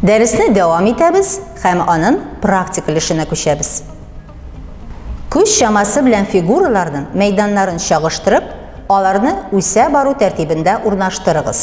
Дәресне дәвам итәбез һәм анын практик өлешенә күчәбез. Күз чамасы белән фигураларның мәйданнарын чагыштырып, Аларны үсә бару тәртибендә урнаштырыгыз.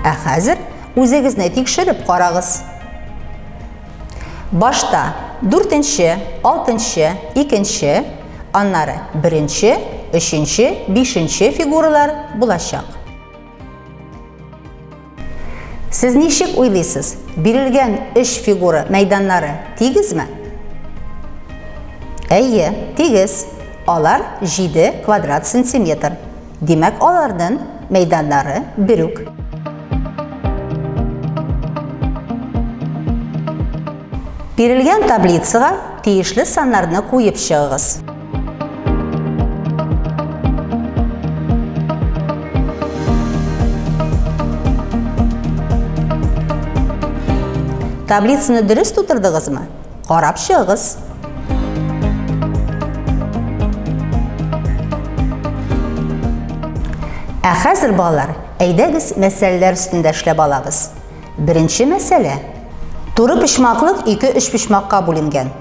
Ә хәзер үзегезне тикшереп карагыз. Башта дүртенче, алтынчы, икенче, аннары беренче, өченче, бишенче фигуралар булачак. Сез ничек уйлыйсыз, бирелгән өч фигура мәйданнары тигезме? Әйе, тигез. Алар 7 квадрат сантиметр. Димәк, аларның мәйданнары берүк. Бирелгән таблицага тиешле саннарны куеп чыгыгыз. Таблицаны дөрес тутырдыгызмы? Карап чыгыгыз. Ә хәзер балалар, әйдәгез мәсьәләләр өстендә эшләп алабыз. Беренче мәсьәлә. Туры почмаклык ике өч почмакка бүленгән.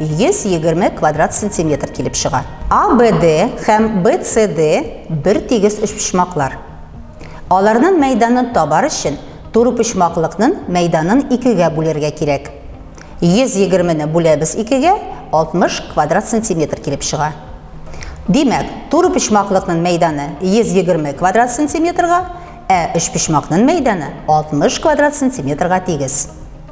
120 квадрат сантиметр килеп чыга. АБД һәм БЦД бер тигез өчпочмаклар. Аларның мәйданын табар өчен турыпочмаклыкның мәйданын икегә бүләргә кирәк. 120 не бүләбез икегә, 60 квадрат сантиметр килеп чыга. Димәк, турыпочмаклыкның мәйданы 120 квадрат сантиметрга, ә өчпочмакның мәйданы 60 квадрат сантиметрга тигез.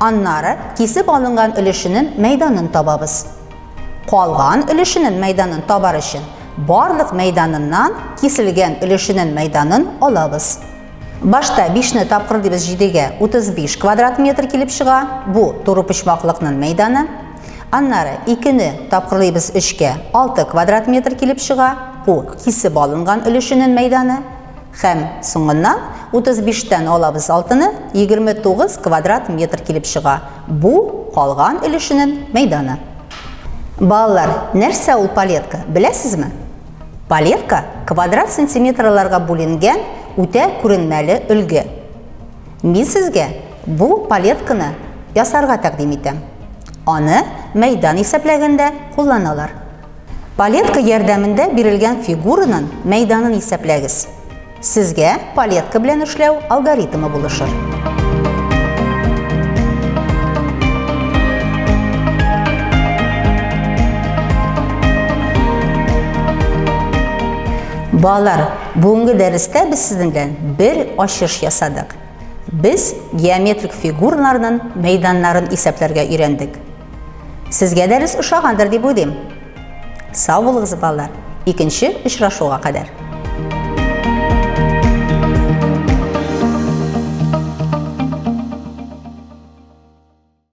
Аннары кисеп алынган өлешенен мәйданын табабыз. Калган өлешенен мәйданын табар өчен барлык мәйданыннан киселгән өлешенен мәйданын алабыз. Башта 5 не тапкыр дибез 7-гә 35 квадрат метр килеп чыга. Бу туры почмаклыкның мәйданы. Аннары 2 не тапкырлыйбыз 3-кә 6 квадрат метр килеп чыга. Бу кисеп алынган өлешенен мәйданы. Һәм, соңыннан, 35 тән алабыз алтыны, 29 квадрат метр килеп чыга. Бу, калган өлешенен мәйданы. Балалар, нәрсә ул палетка, беләсезме? Палетка, квадрат сантиметрларга бүленгән үтә күренмәле өлге. Мин сезгә бу палетканы ясарга тәкъдим итәм. Аны мәйдан исәпләгәндә кулланалар. Палетка ярдәмендә бирелгән фигуранын мәйданын исәпләгез. Сезгә палетка белән эшләү алгоритмы булышыр. Балалар, бүгенге дәрестә без сезнең белән бер ачыш ясадык. Без геометрик фигураларның мәйданнарын исәпләргә өйрәндек. Сезгә дәрес ошагандыр дип уйлыйм. Сау булыгыз, балалар. Икенче очрашуга кадәр.